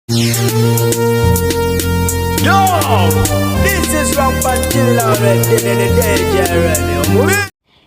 Yo, this is Robert Killer,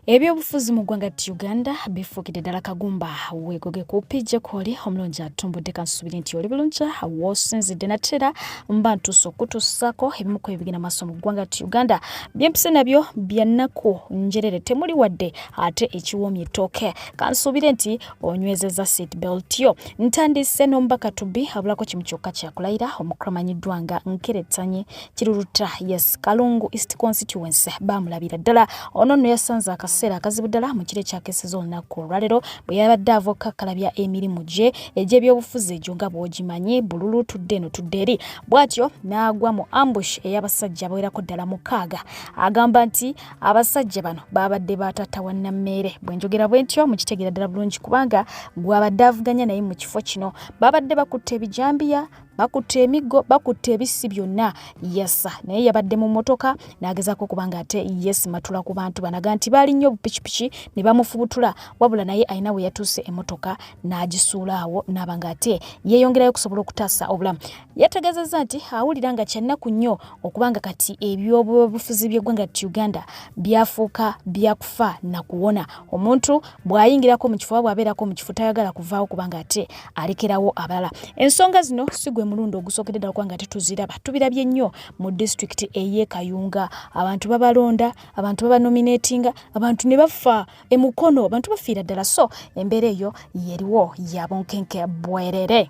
ebyobufuzi mu ggwanga ti uganda bifuukidde ddala kagumba weegoge ku pijja kwoli omulungi atumbudde kansuubire nti oli bulungi woosinzidde nateera mba ntuusa okutuusaako ebimu ku ebigenda maaso mu ggwanga ti uganda byempise nabyo byannaku njerere temuli wadde ate ekiwoomye ettooke kansuubire nti onywezeza seat belt yo ntandise n'omubaka tubi abulako kimu kyokka kyakulayira omukulu amanyiddwa nga nkeretanye kiruluta yes kalungu east constituency baamulabira ddala ono nno yasanze akaseera akazibu ddala mu kiro ekyakeseza olunaku olwalero bwe yabadde avoka kalabya emirimu gye egy'ebyobufuzi egyo nga bwogimanyi bululu tudde eno tudde eri bw'atyo n'agwa mu ambush ey'abasajja abawerako ddala mukaaga agamba nti abasajja bano baabadde baatatta wannammeere bwe njogera bwe ntyo mukitegeera ddala bulungi kubanga gwabadde avuganya naye mu kifo kino baabadde bakutte ebijambiya bakutte emiggo bakutte ebissi byonna yesa naye yabadde mu mmotoka n'agezaako okuba nga ate yesimatula ku bantu banaga nti baali nnyo obupikipiki ne bamufubutula wabula naye alina we yatuuse emmotoka n'agisuula awo n'aba nga ate yeeyongerayo okusobola okutaasa obulamu Yategezezza nti awulira nga kyannaku nnyo okubanga kati ebyobufuzi by'eggwanga ti Uganda byafuuka byakufa na kuwona. Omuntu bw'ayingirako mu kifo oba bw'abeerako mu kifo tayagala kuvaawo kubanga ate alekerawo abalala. Ensonga zino si gwe mulundi ogusookedde ddala kubanga tetuziraba. Tubirabye nnyo mu disitulikiti ey'e Kayunga. Abantu babalonda, abantu babanominatinga, abantu ne bafa e Mukono, abantu bafiira ddala. So embeera eyo yeriwo ya bunkenke bwerere.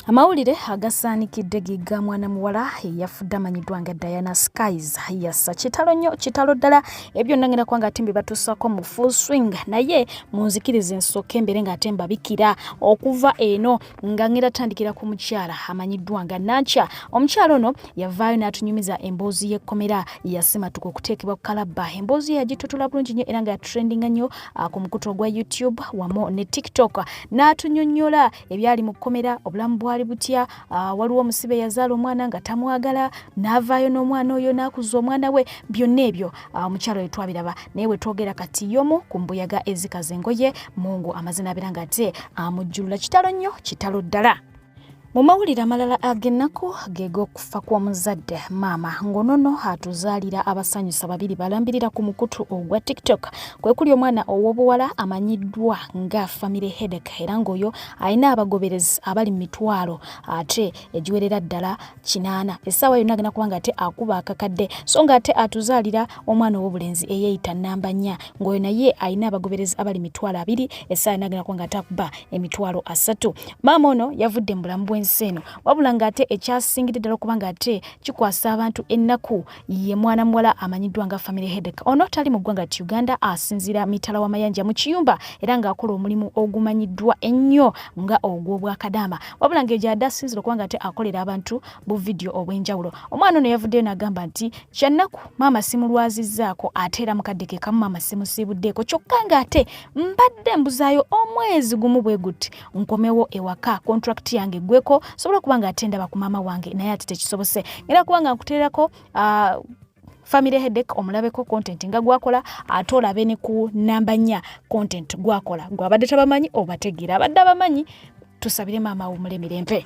amawulire agasaanikidde gigga mwana muwala eyafudde amanyiddwa nga diana skies yassa kitalo nnyo kitalo ddala ebyo nangenda kuba nga ate mbibatuusako mu full swing naye munzikiriza ensooka embeere nga ate mbabikira okuva eno nga ngenda tandikira ku mukyala amanyiddwa nga nankya omukyala ono yavaayo n'atunyumiza emboozi y'ekkomera yasimatuka okuteekebwa ku kalabba emboozi ye yagitotula bulungi nnyo era nga yatrendinga nnyo ah, ku mukutu ogwa youtube wamu ne tiktok n'atunyonnyola ebyali mu kkomera obulamu bwali butya ah, waliwo omusibe yazaala omwana nga tamwagala n'avaayo n'omwana oyo n'akuza omwana we byonna ebyo ah, omukyalo we twabiraba naye we twogera kati yomu ku mbuyaga ezikaza engoye mungu amazina abeera nga ate amujjulula kitalo nnyo kitalo ddala mu mawulire amalala ag'ennaku geeg'okufa fa kwa muzadde maama ngonono atuzaalira abasanyusa babiri balambirira ku mukutu ogwa tiktok kwe kuli omwana ow'obuwala amanyiddwa nga famire hedek era ng'oyo alina abagoberezi abali mu mitwalo ate egiwerera ddala kinaana essaawa yonna agenda kubanga ate akuba akakadde so nga ate atuzaalira omwana ow'obulenzi eyeeyita namba nnya ng'oyo naye alina abagoberezi abali mitwalo abiri essaawa yonna agenda kubanga ate akuba emitwalo asatu maama ono yavudde mu bulamu bw'ensi eno wabula ng'ate ekyasingidde ddala okuba ng'ate kikwasa abantu ennaku ye mwana muwala amanyiddwa nga family hedek ono tali mu ggwanga ti uganda asinziira mitala wa mayanja mu kiyumba era ng'akola omulimu ogumanyiddwa ennyo nga ogw'obwakadaama wabula ng'eyo gy'adde asinzira okuba ng'ate akolera abantu bu vidiyo obw'enjawulo omwana ono yavuddeyo n'agamba nti kyannaku maama simulwazizzaako ate era mukadde ke kamu maama simusiibuddeeko kyokka ng'ate mbadde mbuzaayo omwezi gumu bwe guti nkomewo ewaka contract yange gweko sobola kuba nga ate ndaba ku maama wange naye ati tekisobose ngera kuba nga nkuteerako uh, family headache omulabeko content nga gwakola ate olabe ne ku namba nnya content gwakola gwabadde tabamanyi obategeera abadde abamanyi tusabire maama wumule mirembe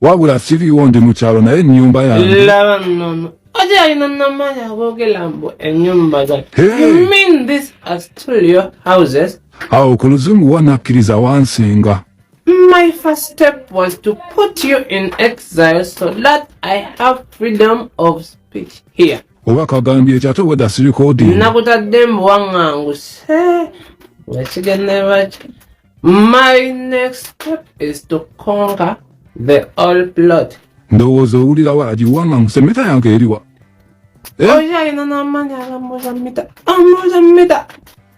wabula siriwo ndi mu kyalo naye ennyumba yange laba nnono oja alina namaanyi aboogera mbu ennyumba za you mean this are still your houses awo ku luzungu wanakkiriza wansinga My first step was to put you in exile so that I have freedom of speech here. oba kagambye ekyo ate weda sirikoodi nakutadde mbu waŋŋanguse nga kigenderwaki My next step is to conquer the all plot. ndowooza owulirawo agiwanga ngu semeta yange eriwa Eh? Oyayina n'amaanyi agamuuza mita. Amuuza mita.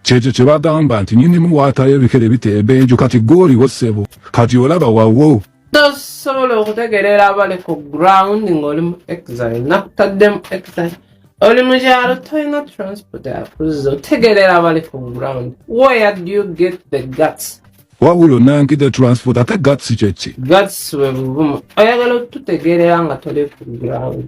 kyekyo kye bagamba nti nyinimu waatayo ebikere biteebenju kati gwe oliwo ssebo kati olaba wawo tosobola okutegereera abali ku ground ng'oli mu exile nakutadde mu exile oli mu kyalo tolina transport akuzza otegereera abali ku ground where do you get the guts wabula onange the transport ate guts kyeki guts bwe buvumu oyagala otutegeerera nga toli ku ground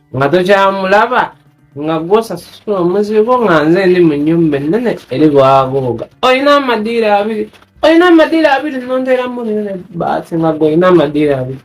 nga tokyamulaba nga gwosasula omuzigo nga nze ndi mu nyumba ennene eri bwagooga olina amadiiro abiri olina amadiiro abiri nonteramu nene baati nga golina amadiiro abiri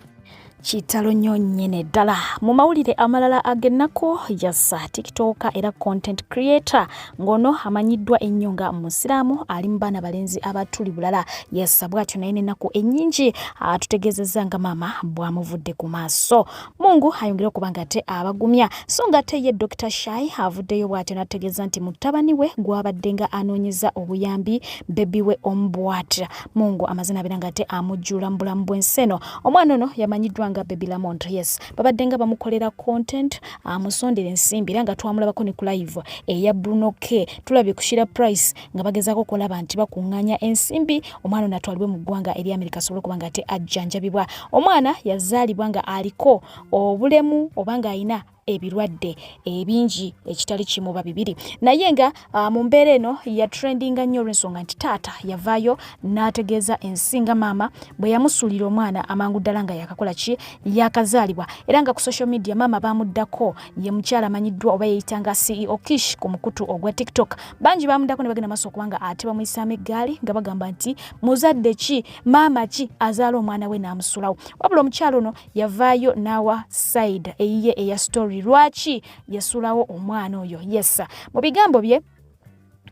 kitalo nnyo nnyene ddala mu mawulire amalala ag'ennaku yassa tiktoka era content creator ng'ono amanyiddwa ennyo nga musiraamu ali mu baana balenzi abatuli bulala yassa bw'atyo naye n'ennaku ennyingi atutegeezezza nga maama bw'amuvudde ku maaso Mungu ayongere okuba nga ate abagumya so nga ate ye Dr Shai avuddeyo bw'atyo n'ategeeza nti mutabani we gw'abadde nga anoonyeza obuyambi bebi we omu bw'atya Mungu amaze n'abeera nga ate amujjula mu bulamu bw'ensi eno omwana ono yamanyiddwa nga Baby Lamont yes babadde nga bamukolera content amusondera ensimbi era nga twamulabako ne ku live eya Bruno K tulabye ku Shira Price nga bagezaako okulaba nti bakuŋŋaanya ensimbi omwana ono atwalibwe mu ggwanga eri amerika asobole okuba nga ate ajjanjabibwa omwana yazaalibwa nga aliko obulemu oba ng'alina ebirwadde ebingi ekitali kimu oba bibiri naye nga uh, mu mbeera eno yatrendinga nnyo olwensonga nti taata yavaayo n'ategeeza ensi nga maama bwe yamusuulira omwana amangu ddala nga yakakola ki yakazaalibwa era nga ku social media maama baamuddako ye mukyala amanyiddwa oba yeyita nga ceo kish ku mukutu ogwa tiktok bangi bamudako ne bagenda maaso okubanga ate bamuyisaamu eggaali nga bagamba nti muzadde ki maama ki azaala omwana we n'amusulawo wabula omukyala ono yavaayo n'awa side eyiye eya story lwaki yasulawo omwana oyo yesa mu bigambo bye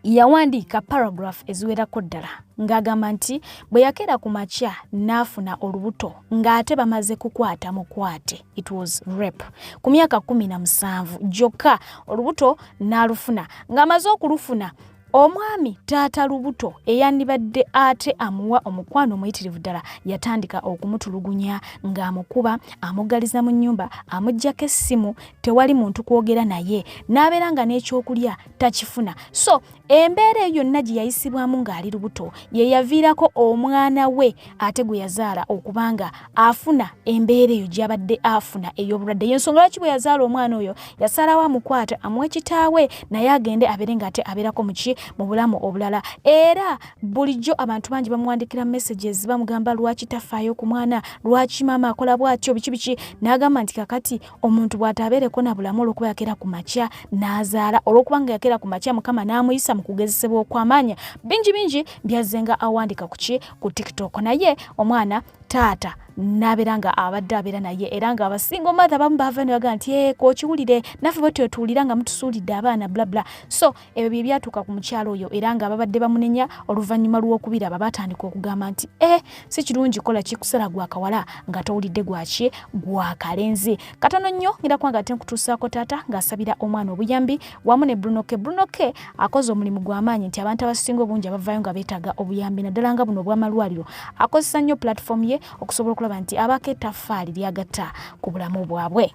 yawandiika paragraph eziwerako ddala ng'agamba nti bwe yakeera ku makya n'afuna olubuto ng'ate bamaze kukwata mukwate it was rape ku myaka kumi na musanvu gyokka olubuto n'alufuna ng'amaze okulufuna omwami taata lubuto eyandibadde ate amuwa omukwano omuyitirivu ddala yatandika okumutulugunya ng'amukuba amugaliza mu nnyumba amuggyako essimu tewali muntu kwogera naye n'abeera nga n'ekyokulya takifuna so embeera eyo yonna gye yayisibwamu ng'ali lubuto ye yaviirako omwana we ate gwe yazaala okuba nga afuna embeera eyo gyabadde afuna ey'obulwadde yensonga lwaki bwe yazaala omwana oyo yasalawo amukwata amuwa kitaawe naye agende abeere ng'ate abeerako muki mu bulamu obulala era bulijjo abantu bangi bamuwandikira messages bamugamba lwaki tafaayo ku mwana lwaki maama akola bw'atyo biki biki n'agamba nti kakati omuntu bw'ataabeereko na bulamu olw'okuba yakeera ku makya n'azaala olw'okuba nga yakeera ku makya mukama n'amuyisa mu kugezesebwa okw'amaanya bingi bingi byazze nga awandika ku ki ku tiktok naye omwana taata nabeera nga abadde abeera naye era nga abasinga omatha bamu baava ne bagaa nti eh, kokiwulire naffe bwetyo tuwulira nga mutusuulidde abaana blabla so Ebyo bye byatuuka ku mukyalo oyo era ng'ababadde bamunenya oluvannyuma lw'okubiraba baatandika okugamba nti e eh, si kirungi kola kikusala gwa kawala nga towulidde gwaki gwa kalenzi katono nnyo ngenda kuba nga ate nkutuusaako taata ng'asabira omwana obuyambi wamu ne brunoke brunoke akoze omulimu gw'amaanyi nti abantu abasinga obungi abavaayo nga beetaaga obuyambi naddala nga buno obw'amalwaliro akozesa nnyo pulatifoomu ye okusobola okulaba nti abaako ettaffaali lyagatta ku bulamu bwabwe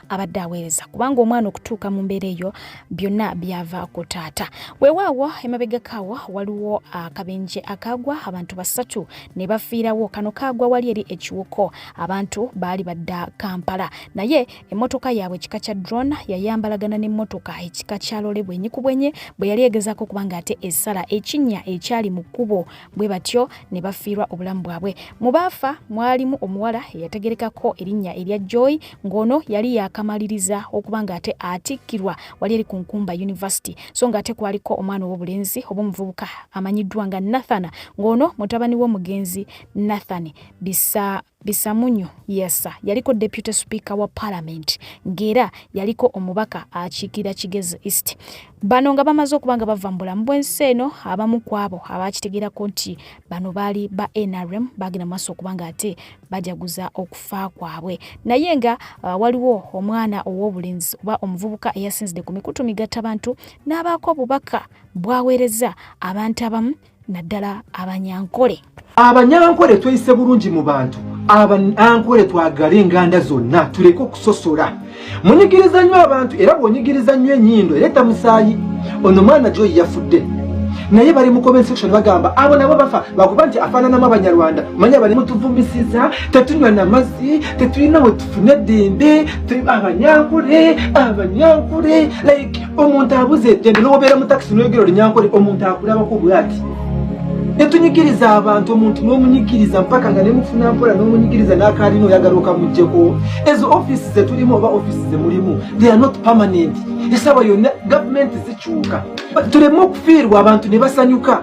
abadde aweereza kubanga omwana okutuuka mu mbeera eyo byonna byava ku taata weewaawo emabegakaawo waliwo akabenje akaagwa abantu basatu ne bafiirawo kano kaagwa wali eri ekiwuko abantu baali badda kampala naye emmotoka yaabwe ekika kya drone yayambalagana n'emmotoka ekika kya lole bwenyi ku bwenyi bwe yali egezaako kubanga ate esala ekinnya ekyali mu kkubo bwe batyo ne bafiirwa obulamu bwabwe mu baafa mwalimu omuwala eyategerekako erinnya erya joy ng'ono yali yakamaliriza okuba ng'ate atikkirwa wali eri ku nkumba yunivasite so ng'ate kwaliko omwana ow'obulenzi oba omuvubuka amanyiddwa nga nathana ng'ono mutabani w'omugenzi nathan bisa Bisamunyu Yassa yaliko Deputy Speaker wa Parliament ng'era yaliko omubaka akiikirira Kigezi East. Bano nga bamaze okuba nga bava mu bulamu bw'ensi eno, abamu ku abo abaakitegeerako nti bano baali ba NRM baagenda mu maaso okuba nga ate bajaguza okufa kwabwe. Naye nga uh, waliwo omwana ow'obulenzi oba omuvubuka eyasinzidde ku mikutu migattabantu n'abaako obubaka bwaweereza abantu abamu naddala abanyankole abanyankole tweyise bulungi mu bantu abanyankole twagala enganda zonna tuleke okusosola munyigiriza nnyo abantu era bwonyigiriza nnyo enyindo ereeta musaayi ono mwana gyoyi yafudde naye bali mu comment section bagamba abo nabo bafa bakuba nti afaananamu abanyarwanda manya bali mutuvumisiza tetunywa na mazzi tetulina wetufune eddembe abanyankule abanyankule like omuntu abuze eddembe n'obeera mu takisi n'oyogera olinyankole omuntu akulabako bwati netunyigiriza abantu omuntu n'omunyigiriza mpaka nga nemufuna mpola n'omunyigiriza n'akaalina oyagala okamugjeko ezo ofisi zetulimu oba ofisi zemulimu they are not permanent esaba yonna gavumenti zikyuka tuleme okufiirwa abantu ne basanyuka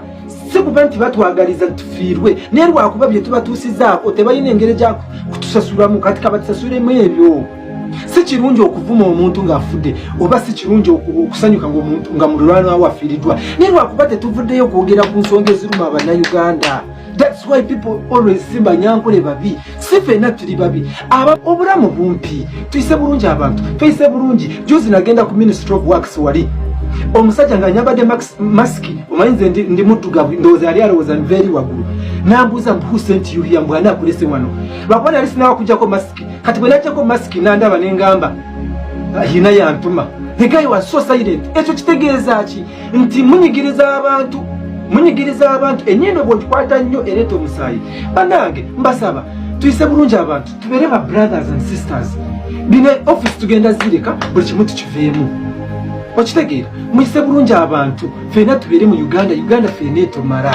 si kuba nti batwagaliza tufiirwe naye lwakuba bye tubatuusizaako tebalina engeri gya kutusasulamu kati kabatusasulemu ebyo si kirungi okuvuma omuntu ng'afudde oba si kirungi okusanyuka nga mululwana wo afiiriddwa naye lwakuba tetuvuddeyo okwogera ku nsonga eziruma abannayuganda thats why people always simba nyankole babi si fenna tuli babi obulamu bumpi tuyise bulungi abantu tuyise bulungi juzi nagenda ku ministry of works wali omusajja nga nyambadde masiki omanyi nze ndi muddugavu ndowooza yali alowooza nveeri waggulu nambuuza mbu who sent you here mbu ani akulese wano lwakuba nali sinawa kujjako masiki kati bwe najjako masiki nandaba ne ngamba yina yantuma the guy was so silent ekyo kitegeeza ki nti munyigiriza abantu munyigiriza abantu enyindo bwogikwata nnyo ereeta omusaayi banange mbasaba tuyise bulungi abantu tubeere ba brothers and sisters bino office tugenda zireka buli kimu tukiveemu okitegeera muyise bulungi abantu feena tubeere mu uganda uganda feena etomala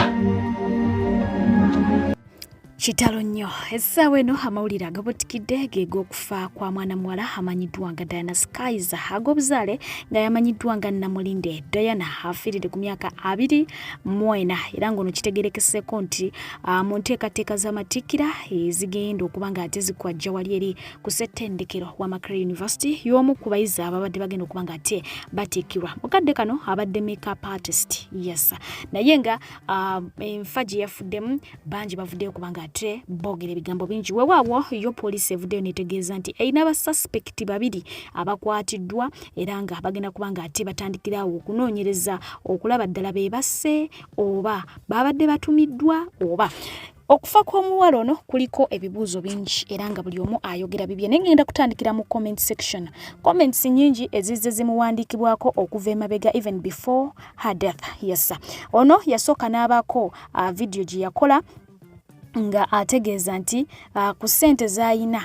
Kitalo nnyo essaawa eno amawulire agabutikidde geeg'okufa kwa mwana muwala amanyiddwa nga Diana Skies ag'obuzaale nga yamanyiddwa nga Namulinde Diana afiiride ku myaka abiri mu ena era ng'ono kitegerekeseko nti ah, mu nteekateeka z'amatikkira ezigenda okuba nga ate zikwajja wali eri ku ssettendekero wa Makerere University y'omu ku bayizi ababadde bagenda okuba nga ate batikkirwa mu kadde kano abadde makeup artist yes naye nga Ah, enfa gye yafuddemu bangi bavuddeyo kubanga ate boogera ebigambo bingi wewaawo yo poliisi evuddeyo netegeeza nti erina abasuspekiti babiri abakwatiddwa era nga bagenda kubanga ate batandikirawo okunoonyereza okulaba ddala be basse oba baabadde batumiddwa oba Okufa kw'omuwala ono kuliko ebibuuzo bingi era nga buli omu ayogera bibye naye ngenda kutandikira mu comment section. Comments nyingi ezizze zimuwandiikibwako okuva emabega even before her death. Yes. Ono yasooka n'abaako uh, vidiyo gye yakola nga ategeeza nti uh, ku ssente z'alina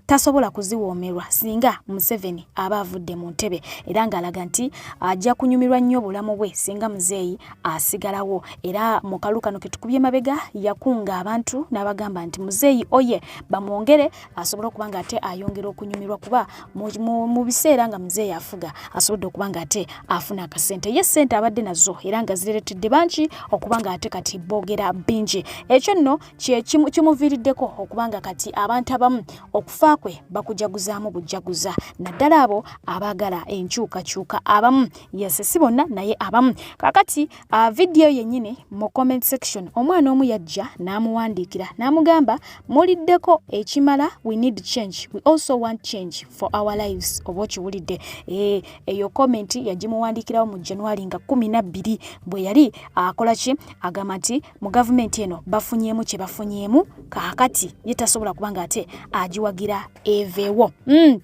tasobola kuziwoomerwa singa museveni aba avudde mu ntebe era ng'alaga nti ajja kunyumirwa nnyo obulamu bwe singa muzeeyi asigalawo era mu kalu kano ke tukubye mabega yakunga abantu n'abagamba nti muzeeyi oye bamwongere asobole okuba nga ate ayongera okunyumirwa kuba mu biseera nga muzeeyi afuga asobodde okuba nga ate afuna akasente ye ssente abadde nazo era nga zireretedde bangi okuba nga ate kati boogera bingi ekyo nno kimuviiriddeko okuba nga kati abantu abamu okufa kwe bakujaguzaamu bujjaguza naddala abo abaagala enkyukakyuka abamu yese si bonna naye abamu kakati uh, vidiyo yennyini mu comment section omwana omu yajja n'amuwandiikira n'amugamba muliddeko ekimala we need change we also want change for our lives oba okiwulidde eh, eyo komenti yagimuwandiikirawo mu januari nga kumi nabbiri bwe yali akola ki agamba nti mu gavumenti eno bafunyeemu kye bafunyeemu kaakati ye tasobola kuba nga ate agiwagira eveewo mm.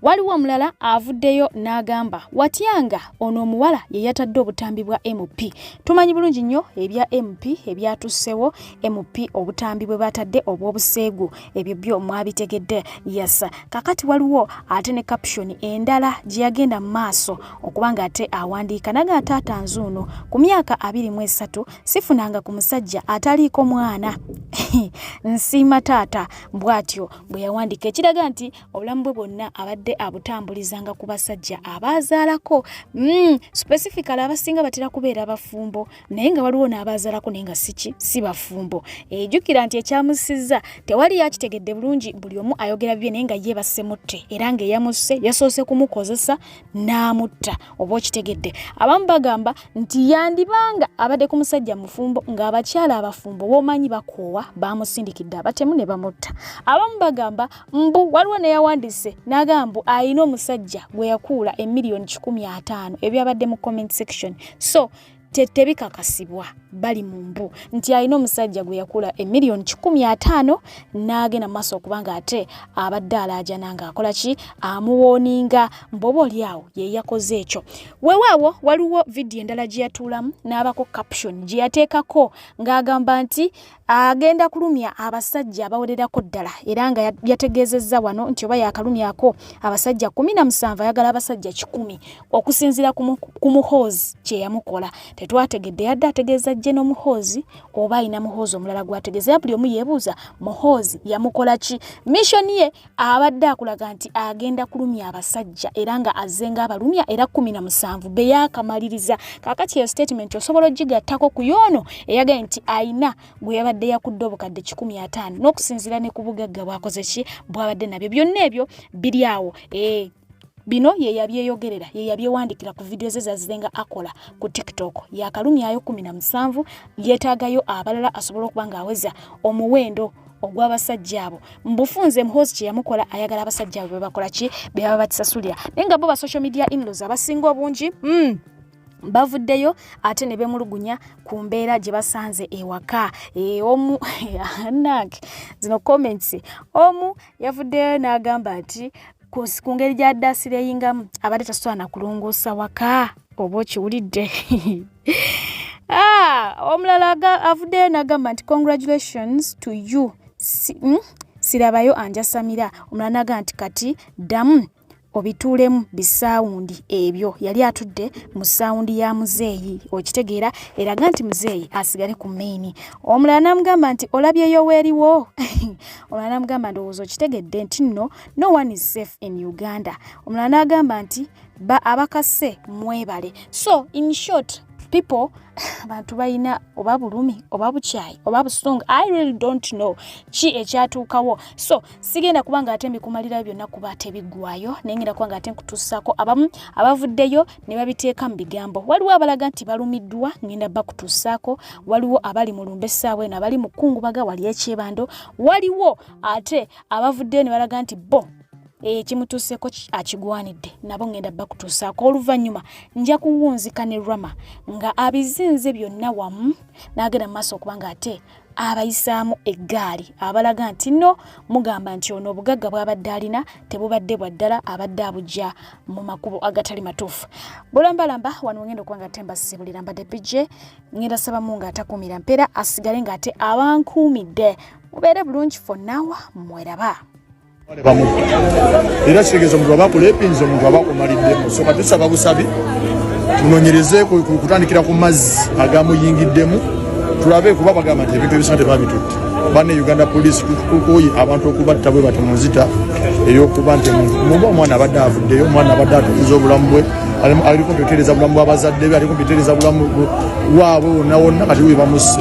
waliwo omulala avuddeyo n'agamba watyanga ono omuwala ye yatadde obutambi bwa mp tumanyi bulungi nnyo ebya mp ebyatussewo mp obutambi bwe batadde obw'obuseegu ebyo byo mwabitegedde yes kakati waliwo ate ne caption endala gye yagenda mu maaso okuba nga ate awandiika naga taata nzuuno ku myaka abiri mu esatu sifunanga ku musajja ataliiko mwana nsiima taata bw'atyo bwe yawandiika ekiraga nti obulamu bwe bwonna abadde abutambulizanga ku basajja abaazaalako mm, specifically abasinga batera kubeera bafumbo naye nga waliwo n'abaazalako naye nga siki si bafumbo ejukira nti ekyamusizza tewali yakitegedde bulungi buli omu ayogera bibye naye nga ye basemutte era ngaeyamusse yasoose kumukozesa n'amutta oba okitegedde abamu bagamba nti yandibanga abadde ku musajja mufumbo ng'abakyala abafumbo boomanyi bakoowa baamusindikidde abatemu ne bamutta abamu bagamba mbu waliwo neyawandiise n'agamba mbu alina omusajja gwe yakuula emiliyoni kikumi ataano ebyabadde mu comment section so tetebikakasibwa bali mu mbu nti alina omusajja gwe yakula emiliyoni kikumi ataano n'agenda maaso okubanga ate abadde alaajana ng'akola ki amuwooninga mboba oli awo ye yakoze ekyo weewaawo waliwo vidiyo endala gye yatuulamu n'abako caption gye yateekako ng'agamba nti agenda kulumya abasajja abawererako ddala era nga yategeezezza wano nti oba yaakalumyako abasajja kumi na musanvu ayagala abasajja kikumi okusinziira ku muhoozi kye yamukola tetwategedde yadde ategeeza jje n'omuhoozi oba alina muhoozi omulala gw'ategeeza era buli omu yeebuuza muhoozi yamukola ki mishoni ye abadde akulaga nti agenda kulumya abasajja era nga azze nga abalumya era kumi na musanvu be yaakamaliriza kaakati eyo sitatimenti osobola ogigattako ku yoono eyagaye nti ayina gwe yabadde yakudde obukadde kikumi ataano n'okusinziira ne ku bugagga bwakoze ki bwabadde nabyo byonna ebyo biri awo ee eh. Bino ye yabyeyogerera ye yabyewandikira ku vidiyo ze zazizenga akola ku TikTok yakalumyayo kumi na musanvu yeetaagayo abalala asobola okuba ng'aweza omuwendo ogw'abasajja abo mbufunze muhozi kye yamukola ayagala abasajja abo bebakola ki be baba bakisasulira naye nga bo ba social media inlos abasinga obungi mm. bavuddeyo ate ne bemulugunya ku mbeera gye basanze ewaka e, omu anak zino comments omu yavuddeyo n'agamba nti ku ngeri gya daasira eyingamu abadde tasobola na kulongoosa waka oba okiwulidde ah, omulala avuddeyo nagamba nti congratulations to you hmm? sirabayo anjasamira omulala nagamba nti kati ddamu obituulemu bisaawundi ebyo yali atudde mu saawundi ya muzeeyi okitegeera eraga nti muzeeyi asigale ku maini omulala namugamba nti olabyeyo weeriwo omulala namugamba ndowooza okitegedde nti nno no one is safe in uganda omulala n'agamba nti ba abakase mwebale so in short people abantu balina oba bulumi oba bukyayi oba busungu i really don't know ki ekyatuukawo so sigenda kuba nga ate mbikumalirayo byonna kuba ate biggwayo naye ngenda kuba nga ate nkutuusaako abamu abavuddeyo ne babiteeka mu bigambo waliwo abalaga nti balumiddwa ngenda bakutuusaako waliwo abali mu lumbe essaawa eno abali mu kkungubaga wali ekyebando waliwo ate abavuddeyo ne balaga nti bo ekimutuuseko eh, akigwanidde nabo ngenda bakutuusaako oluvannyuma nja kuwunzika ne rama nga abizinze byonna wamu n'agenda mu maaso okuba nga ate abayisaamu eggaali abalaga nti no mugamba nti ono obugagga bw'abadde alina tebubadde bwa ddala abadde abujja mu makubo agatali matuufu bulambalamba wano ngenda okuba nga ate mbasibulira mbadde pije ngenda sabamu ng'atakuumira mpeera asigale ng'ate abankuumidde mubeere bulungi fonnawa mweraba era kitegeeza omuntu aba akulepinza omuntu aba akumaliddemu soka tusaba busabi tunonyereze kutandikira ku mazzi agamuyingiddemu tulabe kuba bagamba nti ebintu ebisina tebabitutte bane uganda police tukukoyi abantu okubatta bwe bati munzita eyokuba nti omuntu muba omwana abadde avuddeyo omwana abadde atukuza obulamu bwe aliko mpetereza bulamu bwabazadde be aliko mpetereza bulamu waabwe wonna wonna kati we bamusse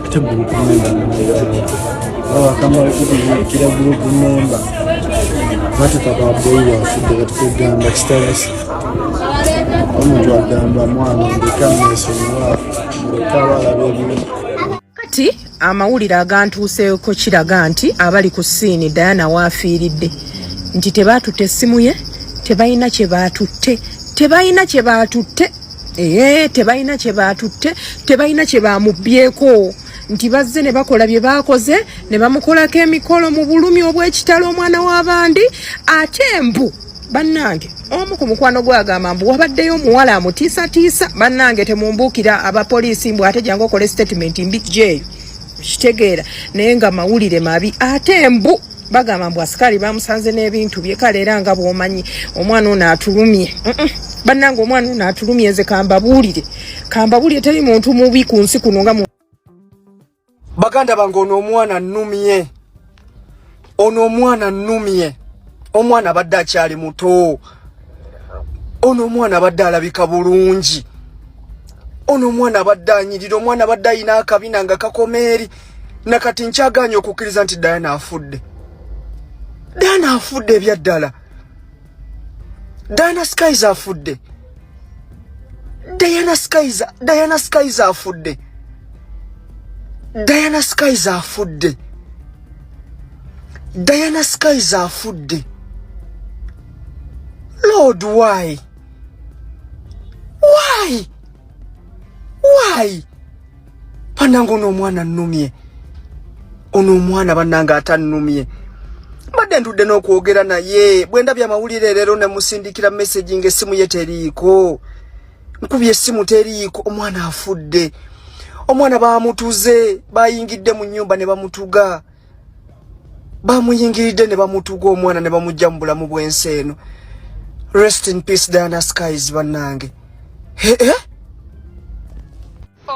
omuntu agamba mwana ndeka mwesonyiwa ndeka balaba ebintu kati amawulire agantuuseeko kiraga nti abali ku siini diana waafiiridde nti tebaatutte essimu ye tebalina kye baatutte tebalina kye baatutte Eee tebalina kye baatutte tebalina kye bamubbyeko nti bazze ne bakola bye baakoze ne bamukolako emikolo mu bulumi obw'ekitalo omwana w'abandi ate embu bannange omu ku mukwano gwagamba mbu wabaddeyo omuwala amutiisatiisa bannange temumbuukira abapoliisi mbu ate jangu okole sitatimenti mbijjeeyo kitegeera naye nga mawulire mabi ate mbu bagamba mbu asikaali bamusanze n'ebintu bye kale era nga bwomanyi omwana ono atulumye bannanga omwana ono atulumye nze kambabuulire kambabuulire teri muntu mubi ku nsi kuno nga baganda bange ono omwana nnumye ono omwana nnumye omwana abadde akyali muto ono omwana abadde alabika bulungi ono omwana abadde anyirira omwana abadde ayina akabina nga kakomeeri na kati nkyagaanye okukkiriza nti diana afudde diana afudde ebyaddala diana skies afudde diana skies diana skies afudde diana skies afudde diana skies afudde lord why why why banange ono omwana nnumye ono omwana banange atannumye mbadde ntudde n'okwogera naye bwe ndabye amawulire leero ne musindikira messagi ng'essimu ye teriiko nkubye essimu teriiko omwana afudde omwana baamutuze baayingidde mu nnyumba ne bamutuga bamuyingiridde ne bamutuga omwana ne bamujja mu bulamu bw'ensi eno rest in peace diana skies bannange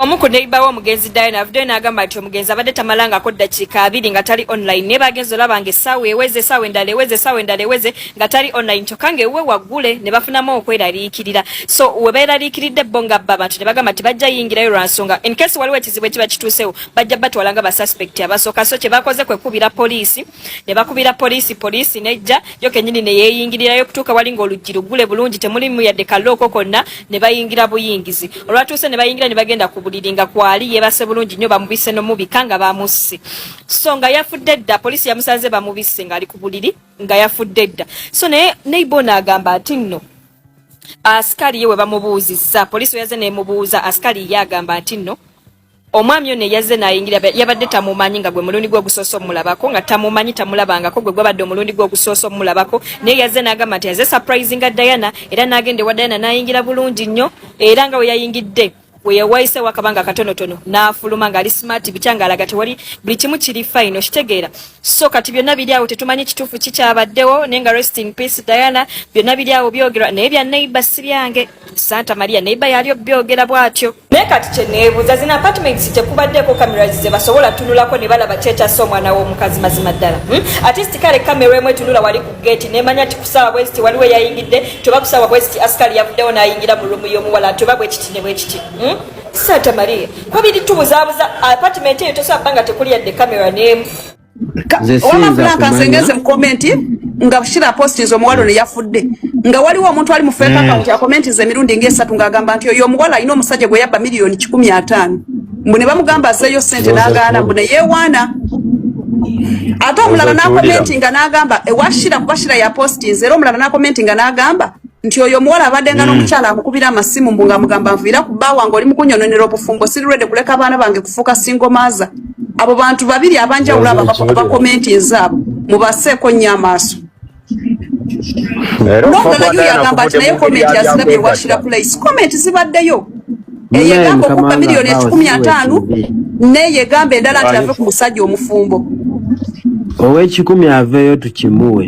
omu ku neiba w'omugenzi diana avuddeyo n'agamba nti omugenzi abadde tamalangako ddakiika abiri nga tali online naye bagenzi olaba nga essaawa eweze essaawa endala eweze essaawa endala eweze nga tali online kyokka nga ewuwe waggule ne bafunamu okweraliikirira so we beeraliikiridde bo nga bba bantu ne bagamba nti bajja yingirayo lwa nsonga in case waliwo ekizibu ekiba kituusewo bajja batwala nga basuspect abasooka so kyebakoze kwekubira poliisi ne bakubira poliisi poliisi nejja yo kenyini ne yeeyingirirayo okutuuka wali ng'oluggi luggule bulungi temulimu yadde kallooko konna ne bayingira buyingizi olwatuuse ne bayingira ne bagenda ku buliri nga kwali yeebase bulungi nnyo bamubise nomubika nga bamusse so nga yafudde dda poliisi yamusanze bamubisse ng'ali ku buliri nga yafudde dda so naye neibona agamba ati nno asikali ye we bamubuuzizza poliisi weyaze nemubuuza asikali ye agamba nti nno omwami ono eyazze nayingira yabadde tamumanyi nga gwe mulundi gwe ogusoosa omulabako nga tamumanyi tamulabangako gwe gwabadde omulundi gwe ogusoosa omulabako naye yazze n'agamba nti aze surprise nga diana era n'agenda ewa diana n'ayingira bulungi nnyo era nga we yayingidde weyawayise wakabanga katonotono nafuluma nga ali smart bikyanga alaga tewali buli kimu kiri fine okitegeera so kati byonna biri awo tetumanyi kituufu kikyabaddewo naye nga rest in peace diana byonna biri awo byogera naye bya neighbor si byange santa maria neighbor yali obyogera bwatyo naye kati kyeneebuuza zino apartments tekubaddeeko cameras ze basobola tunulako ne balaba kyekyassa omwana w'omukazi mazima ddala hmm? atist kale kamera emu etunula wali ku geeti nemanya ti kusaawa bweziti waliwo eyayingidde toba kusaawa bweziti asikali yavuddewo n'ayingira mu lumu y'omuwala toba bwekiti ne bwekiti hmm? santa maria kwabiri tubuzabuza apartment eyo tosobola kubanga tekuli yadde kamera n'emu wamavulaakansengeze mu komenti nga shira postinze omuwala ono yafudde nga waliwo omuntu ali mu fake mm. account akomentiza emirundi ngaesatu ng'agamba nti oyo omuwala alina omusajja gwe yabba miliyoni kikumi ataano mbu ne bamugamba azeeyo sente n'agaana mbu neyeewaana ate omulala n'akomenti nga n'agamba ewashira kuba shira yapostinze era omulala n'akomenti nga n'agamba nti oyo omuwala abadde nga mm. n'omukyala amukubira amasimu mbu nga mugamba nviira ku bba wange oli mukunyononera obufumbo siri rwede kuleka abaana bange kufuuka singomaaza abo bantu babiri abanjawulo abakomenti ezaabo mubaseeko nnyo amaaso nongalayo yagamba nti naye komenti azirabye washira place komenti zibaddeyo eyegamba okubba miliyoni ekikumi ataano neyegamba endala nti ave ku musajja omufumbo owekikumi aveeyo tukimuwe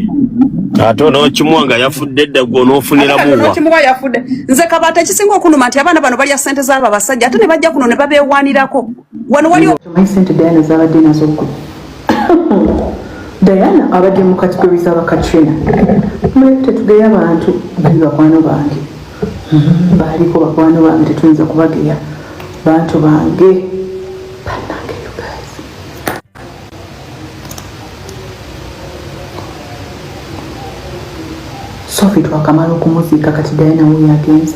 ate onokimuwa nga yafudde dda gwe onofuniramuwakimuwa yafudde nze kabata ekisinga okunuma nti abaana bano balya sente z'abo abasajja ate ne bajja kuno ne babeewaanirako wano waliwo tumanyi sente diana zabadde nazo gwe diana abadde mu kategori zaba katrina mulabe tetugeya bantu bali bakwano bange mm-hmm. baliko bakwano bange tetuyinza kubageya bantu bange banange you guys sofi twakamala okumuziika kati diana wuyo agenze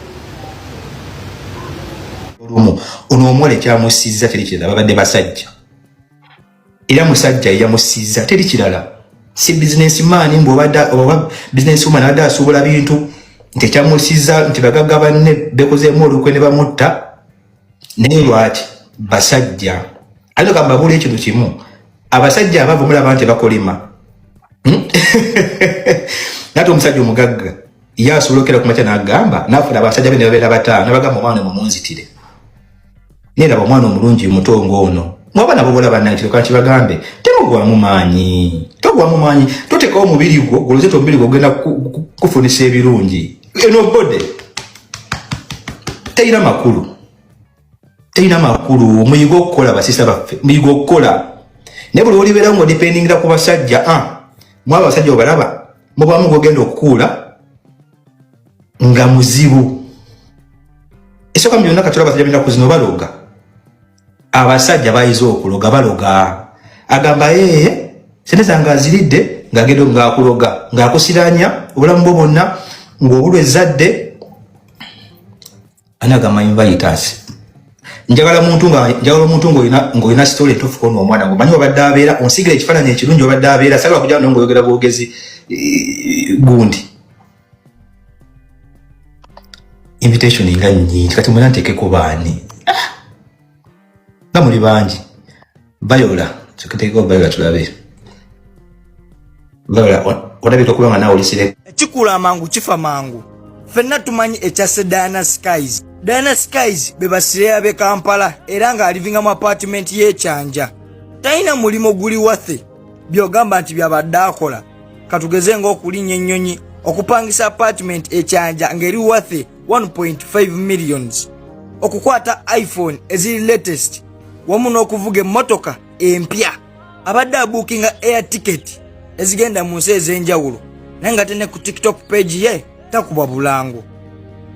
olumu ono omuwala ekyamusiiza teri kirala babadde basajja era musajja eyamusiiza teri kirala si bizinesi maani mbu oba bizinesi woman abadde asuubula bintu nti ekyamusiiza nti bagagga banne bekozeemu olukwe ne bamutta naye lwaki basajja ayinza kamba bula ekintu kimu abasajja abavu mulaba nti bakolima hmm? nate omusajja omugagga ye asobola okera kumakya nagamba nafuna abasajja be nebabeera bataano nabagamba omwana mumunzitire naye laba omwana omulungi mutongo ono mwaba nabo bola banakireka kibagambe temugwamu maanyi togwamu maanyi totekawo omubiri gwo goloze tomubiri gwo ogenda kufunisa ebirungi eno bode teyina makulu teyina makulu muyiga okukola basisa baffe muyiga okukola naye buli olibeerawo nga odipendingira ku basajja a ah, mwaba abasajja obalaba mubamu gogenda okukuula nga muzibu esoka mu byonna katula basajja binaku zino baloga abasajja bayize okuloga baloga agamba ee eh, sente zange aziridde ng'agenda ng'akuloga ng'akusiranya obulamu bwo bwonna ng'obulwa ezzadde ani agamba inviters njagala muntu nga njagala omuntu ng'olina ng'olina sitole entuufu kona omwana ngo manyi obadde abeera onsigira ekifaananyi ekirungi obadde abeera sagala kujaa no ng'oyogera bwogezi eh, gundi invitation nga nyingi kati mwena ntekeko baani ah! nga muli bangi bayola tukitekeko bayola tulabe bayola olabika okuba nga nawe olisire kikula amangu kifa mangu fenna tumanyi ekyase diana skies diana skies bebasireya be kampala era nga alivinga mu apartment yekyanja talina mulimu guli wathe byogamba nti byabadde akola katugeze ng'okulinnya ennyonyi okupangisa apartment ekyanja ng'eri wathe 1.5 millions okukwata iphone eziri latest wamu n'okuvuga emmotoka empya abadde abuukinga air ticket ezigenda mu nsi ez'enjawulo naye nga tene ku tiktok page ye takubwa bulango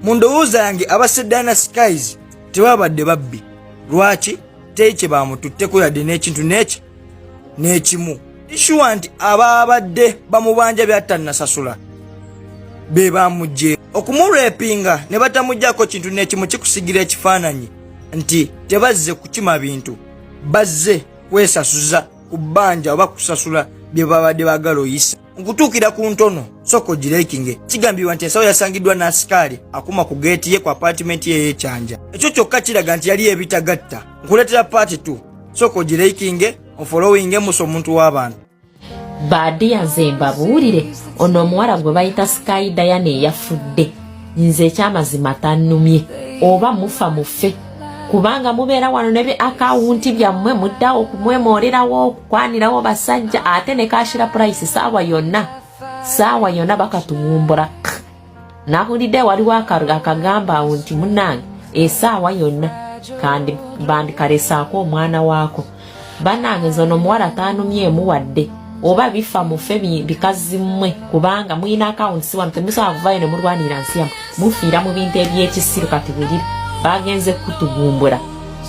mu ndowooza yange aba sedana skies tebabadde babbi lwaki teri kye bamututteko yadde n'ekintu n'eki n'ekimu ishuwa nti abaabadde bamubanja byatannasasula be bamugye okumurepinga ne batamugyako kintu n'ekimu kikusigira ekifaananyi nti tebazze kukima bintu bazze kwesasuza ku bbanja oba kusasula bye babadde bagala oyisa Mu kutuukira ku ntono sooka ogireekinge. Kigambibwa nti ensawo yasangiddwa n'asikaali akuma ku geeti ye ku apaatimenti ye ey'ekyanja. Ekyo kyokka kiraga nti yali ebitagatta. Nkuleetera paati 2 sooka ogireekinge ofolowinge musa omuntu w'abantu. Baadiya nze mbabuulire ono omuwala gwe bayita Sky Diana eyafudde nze ekyamazima tannumye oba mufa mufe kubanga mubeera wano ne bi akawunti byammwe muddawo okumwemoolerawo kwanirawo basajja ate ne kashira price saawa yonna saawa yonna bakatuwumbula nahulidde waliwo akagamba awo nti munange esaawa yonna kandi bandikaresaako omwana waako banange nze ono omuwala taanumyemu wadde oba bifa mufe bikazi mmwe kubanga mulina akawunti siwano temusobola kuvayo ne mulwanira nsi yamu mufiira mu bintu ebyekisiru kati bulira bagenze kutugumbula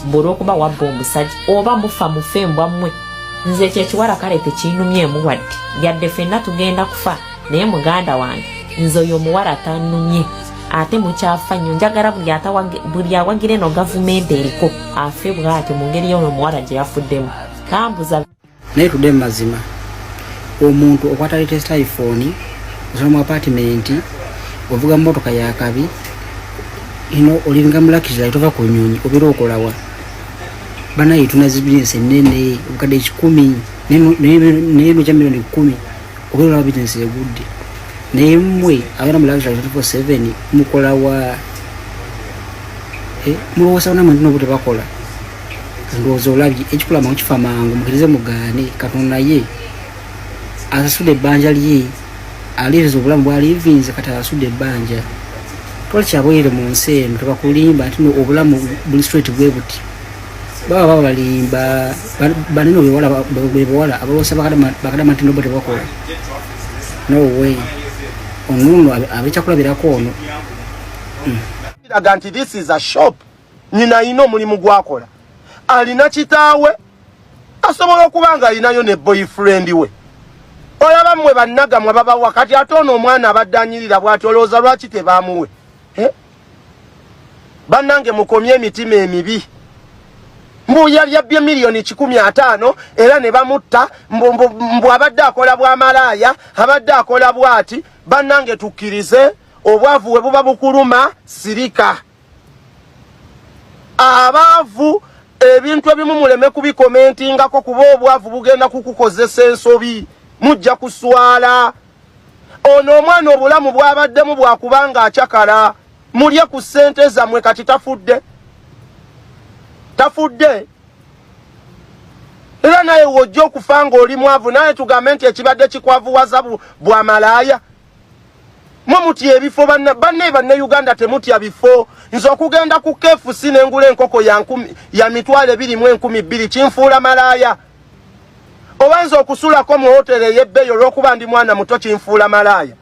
mbu olwokuba wabba omusajja oba mufa mufe embwa mmwe nze ekyo ekiwala kale tekiinumyemu wadde yadde fenna tugenda kufa naye muganda wange nze oyo omuwala tanumye ate mukyafa nnyo njagala buli awagira eno gavumenti eriko afe bwatyo mu ngeri yono omuwala gye yafuddemu kambuza naye tudde mu mazima omuntu okwata latest iphone osobola mu apartment ovuga motoka yakabi ino olinga mulakizira tova ku nyonyi obeera okolawa banaye tunazi bizinesi enene obukadde kikumi naye noja milioni kumi obeera olaba bizinesi egudde naye mmwe abeera mulakizira 24/7 mukolawa eh, mulowoosa banamwe ntino obutebakola ndowooza olabye ekikulama mukifa mangu mukirize mugaane katonda ye asasude ebbanja lye aliviza obulamu bwalivinze kati asasude ebbanja tola kyabwerere mu nsi eno tebakulimba nti no obulamu buli straight bwe buti baba babalimba banene bebawala abawosa bakadama nti nobo tebakola no way onuno abekyakulabirako ono hmm. nyina alina omulimu gwakola alina kitaawe asobola okuba nga alinayo ne boyfriend we olaba mwe bannagamwe babawa kati ate ono omwana abadde anyirira bwati olowooza lwaki tebamuwe eh? bannange mukomye emitima emibi mbu yalyabbye miliyoni kikumi ataano era ne bamutta mbu abadde akola bwamalaaya abadde akola bwati bannange tukkirize obwavu we buba bukuluma sirika abaavu ebintu ebimu muleme kubikomentingako kuba obwavu bugenda kukukozesa ensobi mujja kuswala ono omwana obulamu bwabaddemu bwakubanga acakala mulye ku ssente zammwe kati tafudde tafudde era naye wojja okufa ng'oli mwavu naye tugambe nti ekibadde kikwavuwaza bwamalaaya mwe mutya ebifo banne banne banne uganda temutya bifo nze okugenda ku kfc nengula enkoko ya mitwalo ebiri mu enkumi bbiri kinfuula malaaya oba nze okusulako mu hoteri eyebbeeyi olwokuba ndi mwana muto kinfuula malaaya